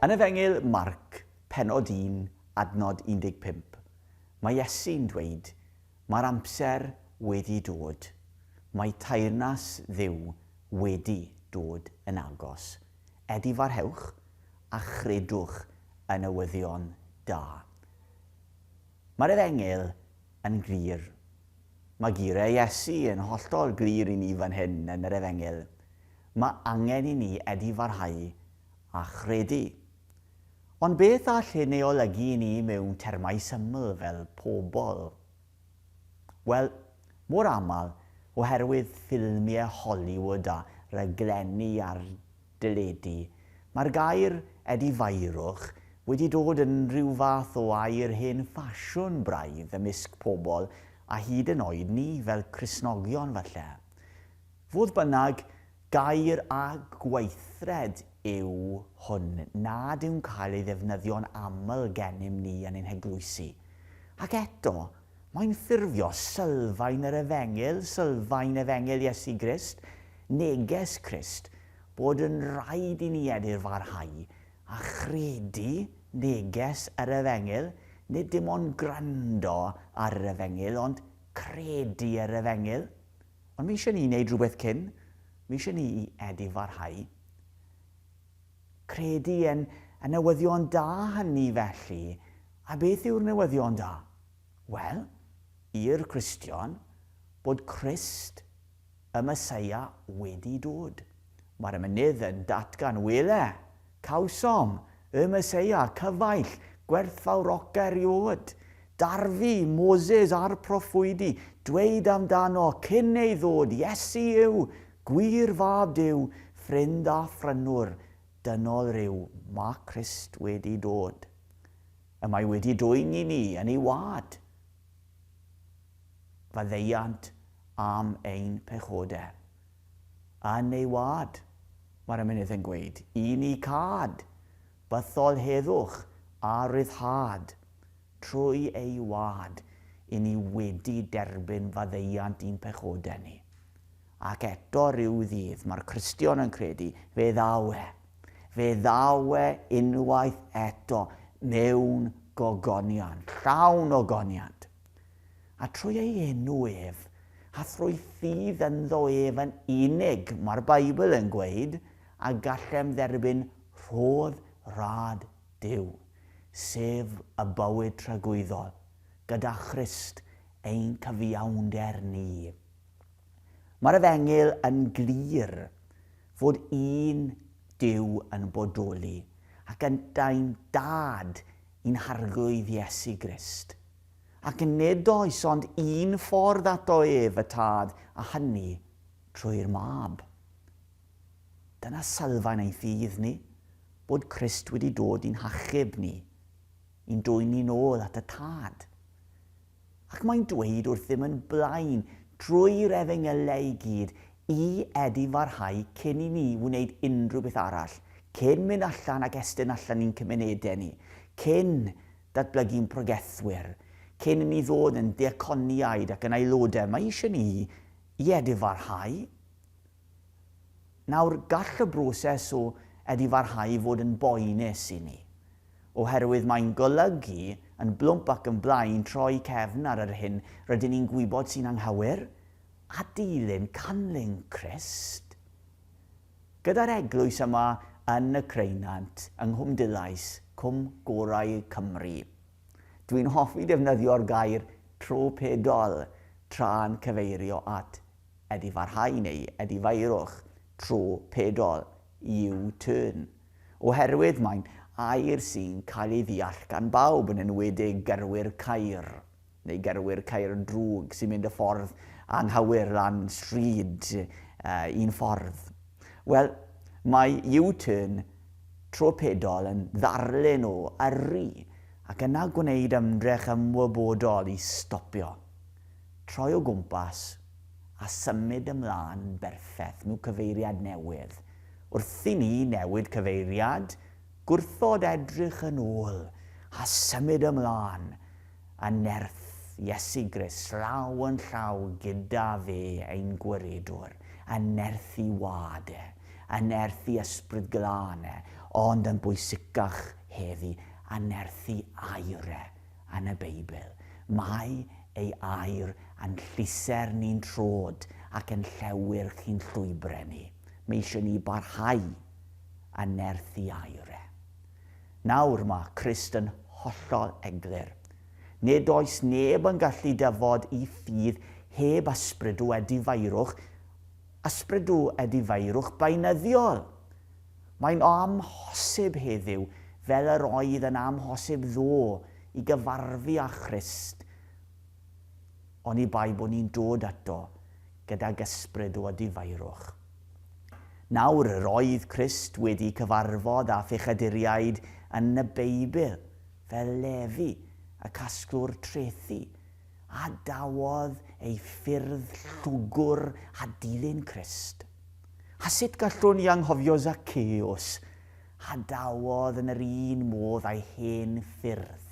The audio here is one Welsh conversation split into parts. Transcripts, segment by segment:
Yn Efengyl Marc, pennod 1, adnod 15, mae Iesu'n dweud, Mae'r amser wedi dod. Mae teyrnas Dduw wedi dod yn agos. Edifarhewch a chredwch yn newyddion da. Mae'r Efengyl yn glir. Mae geiriau Iesu yn hollol glir i ni fan hyn yn yr Efengyl. Mae angen i ni edifarhau a chredu. Ond beth all hyn ei olygu i ni mewn termau syml fel pobl? Wel, mor aml, oherwydd ffilmiau Hollywood a raglenni ar Deledu, Mae'r gair 'edifairwch' wedi dod yn rhyw fath o air hen ffasiwn braidd ymysg pobl a hyd yn oed ni fel Cristnogion falle. Fodd bynnag, gair a gweithred yw hwn nad yw'n cael ei ddefnyddio'n aml gennym ni yn ein heglwysi. Ac eto, Mae'n ffurfio sylfaen yr efengyl, sylfaen efengyl Iesu Grist, neges Crist, bod yn rhaid i ni edr farhau a chredu neges yr efengyl, nid dim ond gwrando ar yr efengyl, ond credu yr efengyl. Ond mae eisiau ni wneud rhywbeth cyn, mae eisiau ni i edr farhau. Credu yn y newyddion da hynny felly. A beth yw'r newyddion da? Wel, i'r Cristion, bod Crist, y Meseia, wedi dod. Mae'r mynydd yn datgan, Wele! Cawsom! Y Meseia, cyfaill, gwerthfawroca eriôd! Darfu, Moses a'r proffwydi, dweud amdano, cyn ei ddod, Iesu yw! Gwir fab Duw, ffrind a phrynwr dynol ryw, mae Crist wedi dod. Y mae wedi dwyn i ni yn ei wâd faddeuant am ein pechode. Yn ei wâd, mae'r ymenydd yn gweud, i ni câd bythol heddwch a rhyddhâd. Trwy ei wâd, i ni wedi derbyn faddeuant i'n pechode ni. Ac eto rhyw ddydd, mae'r Cristion yn credu, fe ddaw e. Fe ddaw e unwaith eto mewn gogonion, llawn o goniant. A trwy ei enw ef, a thrwy ffydd ynddo ef yn unig, mae'r Beibl yn gweud, a gallem dderbyn rhodd rad Duw, sef y bywyd tragwyddol, gyda Christ ein cyfiawnder ni. Mae'r efengyl yn glir fod un Duw yn bodoli, ac yntau'n Dad i'n Harglwydd Iesu Grist. Ac nid oes ond un ffordd ato ef, y Tad, a hynny trwy'r Mab. Dyna sylfaen ein ffydd ni, bod Crist wedi dod i'n hachub ni, i'n dwyn ni'n ôl at y Tad. Ac mae'n dweud wrthym yn blaen drwy'r Efengylau i gyd i edifarhau cyn i ni wneud unrhyw beth arall, cyn mynd allan ac estyn allan i'n cymunedau ni, cyn datblygu'n pregethwyr, cyn i ni ddod yn ddiaconiaid ac yn aelodau, mae eisiau ni i edifarhau Nawr, gall y broses o edifarhau i fod yn boenus i ni, oherwydd mae'n golygu yn blwmp ac yn blaen troi cefn ar yr hyn rydyn ni'n gwybod sy'n anghywir, a dilyn canlyn Crist. Gyda'r eglwys yma yn y Creunant, yng Nghwm Dulais, cwm gorau Cymru. Dwi'n hoffi defnyddio'r gair tro pedol tra'n cyfeirio at Ydy pharhau neu ydy feirwch tro pedol, U-turn? Oherwydd mae'n air sy'n cael ei ddeall gan bawb, yn enwedig gyrwyr ceir, neu gyrwyr ceir drwg sy'n mynd y ffordd anghywir lan stryd un ffordd. Wel, mae U-turn tro pedol yn ddarlun o yrru ac yna gwneud ymdrech ymwybodol i stopio. Troi o gwmpas a symud ymlaen yn berffeth mewn cyfeiriad newydd. Wrth i ni newid cyfeiriad, gwrthod edrych yn ôl a symud ymlaen yn nerth Iesu Grist llaw yn llaw gyda fe, ein Gwiredwr, yn nerth i Wâd e, yn nerth i Ysbryd Glân e, ond yn bwysicach heddi, yn nerth i air e, yn y Beibl. Mae ei air a'n llusern ni'n trod ac yn llewyrch i'n llwybrau ni. Mae eisiau ni barhau yn nerth i air e. Nawr, mae Crist yn hollol eglur. Nid oes neb yn gallu dyfod i ffydd heb ysbrydw edifeirwch, ysbrydw edifeirwch beunyddiol. Mae'n amhosib heddiw, fel yr oedd yn amhosib ddo, i gyfarfu â Christ, oni bai bod ni'n dod ato gydag ysbryd o adifairwch. Nawr, yr oedd Crist wedi cyfarfod â phechaduriaid yn y Beibl, fel Lefi, y casglwr trethi, a dawodd ei ffyrdd llwgwr a dilyn Crist. A sut gallwn i anghofio Zacceus, a dawodd yn yr un modd â'i hen ffyrdd,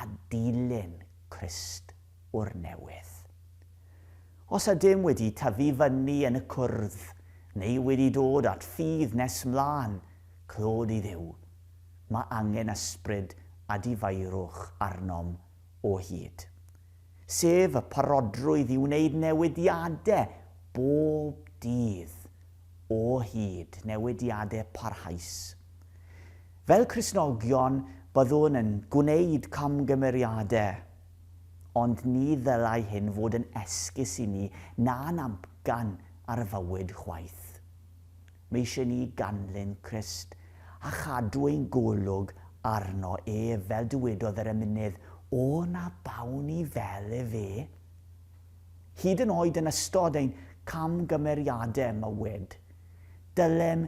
a dilyn Crist o'r newydd. Os ydym wedi tyfu fyny yn y cwrdd, neu wedi dod at ffydd nes mlân, clod i Dduw, mae angen ysbryd a difaerwch arnom o hyd, sef y parodrwydd i wneud newidiadau bob dydd o hyd, newidiadau parhaus. Fel Cristnogion, byddwn yn gwneud camgymeriadau, ond ni ddylai hyn fod yn esgus i ni na'n amcan ar y fywyd chwaith. Mae eisiau ni ganlyn Crist a chadw ein golwg arno ef, fel dywedodd yr emynydd, O na bawn ni fel efe. Hyd yn oed yn ystod ein camgymeriadau mywyd, dylem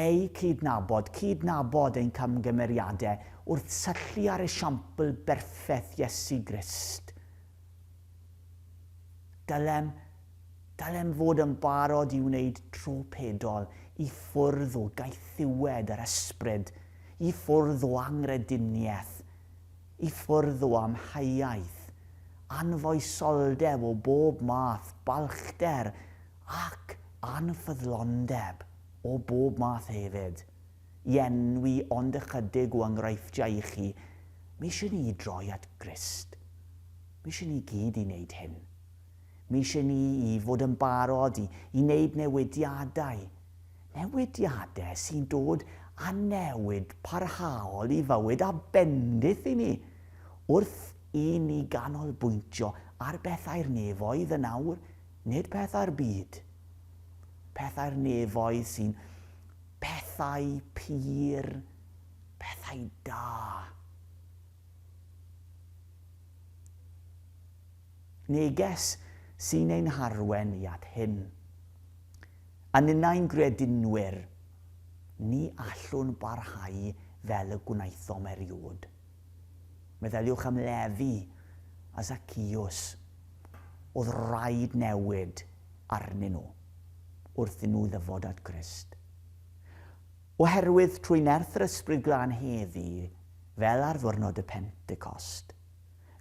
eu cydnabod, cydnabod ein camgymeriadau, wrth syllu ar esiampl berffeth Iesu Grist. Dylem Dylem fod yn barod i wneud tro pedol i ffwrdd o gaethiwed yr ysbryd, i ffwrdd o angrediniaeth, i ffwrdd o amheuaeth, anfoesoldeb o bob math, balchder ac anffyddlondeb o bob math hefyd, i enwi ond ychydig o enghreifftiau i chi, mi eisiau ni i droi at Grist. Mi eisiau ni gyd i wneud hyn. Mae eisiau ni i fod yn barod i i wneud newidiadau, newidiadau sy'n dod â newid parhaol i fywyd a bendith i ni, wrth i ni ganolbwyntio ar bethau'r nefoedd yn awr, nid pethau'r byd. Pethau'r nefoedd sy'n pethau pur, pethau da. Neges sy'n ein harwain i at hyn. A ninnau'n gredinwyr, ni allwn barhau fel y gwnaethom eriod. Meddyliwch am Lefi a Zacchaeus. Oedd raid newid arnyn nhw wrth i nhw ddyfod at Grist. Oherwydd, trwy nerth yr Ysbryd Glân heddi, fel ar Ddiwrnod y Pentecost,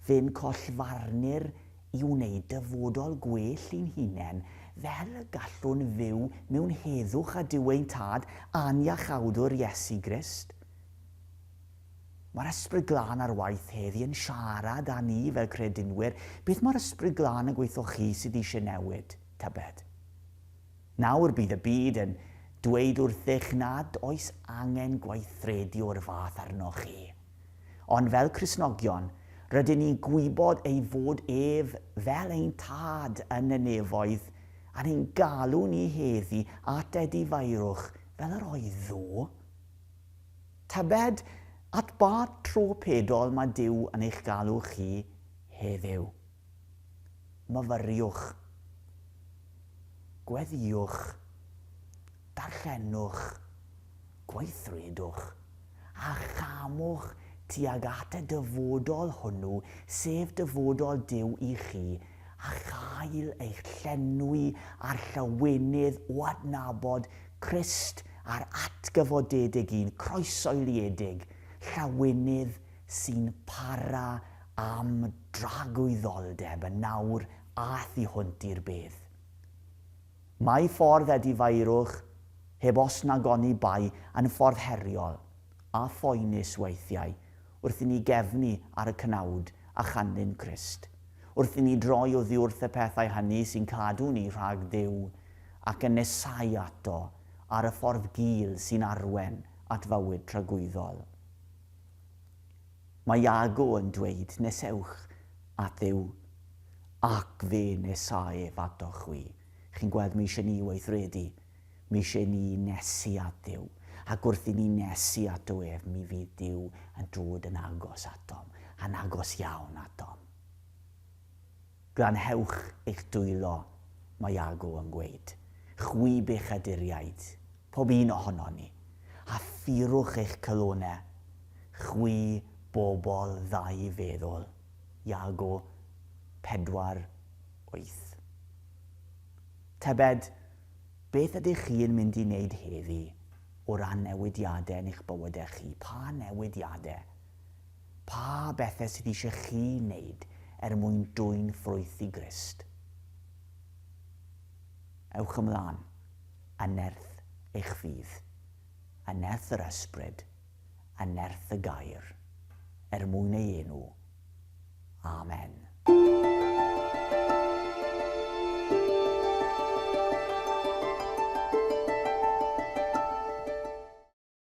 Fe'n collfarnu'r i wneud dyfodol gwell i'n hunen, fel y gallwn fyw mewn heddwch a Duw ein Tad a'n Iachawdwr Iesu Grist. Mae'r Ysbryd Glân ar waith heddi yn siarad â ni fel credinwyr, beth mae'r Ysbryd Glân yn gweitho chi sydd eisiau newid, tybed? Nawr bydd y byd yn dweud wrthych nad oes angen gweithredu o'r fath arnoch chi. Ond fel Cristnogion, rydyn ni'n gwybod ei fod ef fel ein Tad yn y nefoedd a ni'n galw ni heddi at edifeirwch fel yr oedd ddo. Tybed at ba tro pedol mae Duw yn eich galw chi heddiw? Myfyriwch. Gweddiwch. Darllenwch. Gweithredwch. A chamwch tuag at y dyfodol hwnnw, sef dyfodol Duw i chi, a chael eich llenwi â'r llawenydd o adnabod Crist a'r atgyfodedig un croeshoeliedig, llawenydd sy'n para am dragwyddoldeb yn nawr a thu hwnt i'r bedd. Mae ffordd Eddie Faerwch, heb os nag oni bai, yn ffordd heriol, a phoenus weithiau, wrth i ni gefnu ar y cnawd a chanlyn Crist, wrth i ni droi oddiwrth y pethau hynny sy'n cadw ni rhag Duw, ac yn nesáu ato ar y ffordd gul sy'n arwen at fywyd tragwyddol. Mae Iago yn dweud, Nesewch at Dduw, ac fe nesa ef atoch chwi. Chi'n gweld, mae eisiau ni weithredu. Mae eisiau ni nesu at Dduw. Ac wrth i ni nesu ato ef, mi fydd Duw yn dod yn agos atom, yn agos iawn atom. Glanhewch eich dwylo, mae Iago yn gweud, chwi bechaduriaid, pob un ohonon ni, a phurwch eich calonau, chwi bobl ddau feddwl. Iago pedwar wyth. Tybed, beth ydych chi yn mynd i wneud heddi o ran newidiadau yn eich bywydau chi? Pa newidiadau? Pa bethau sydd eisiau chi wneud er mwyn dwyn ffrwyth i Grist? Ewch ymlaen, a nerth eich ffydd, a nerth yr Ysbryd, a nerth y Gair, er mwyn ei enw. Amen.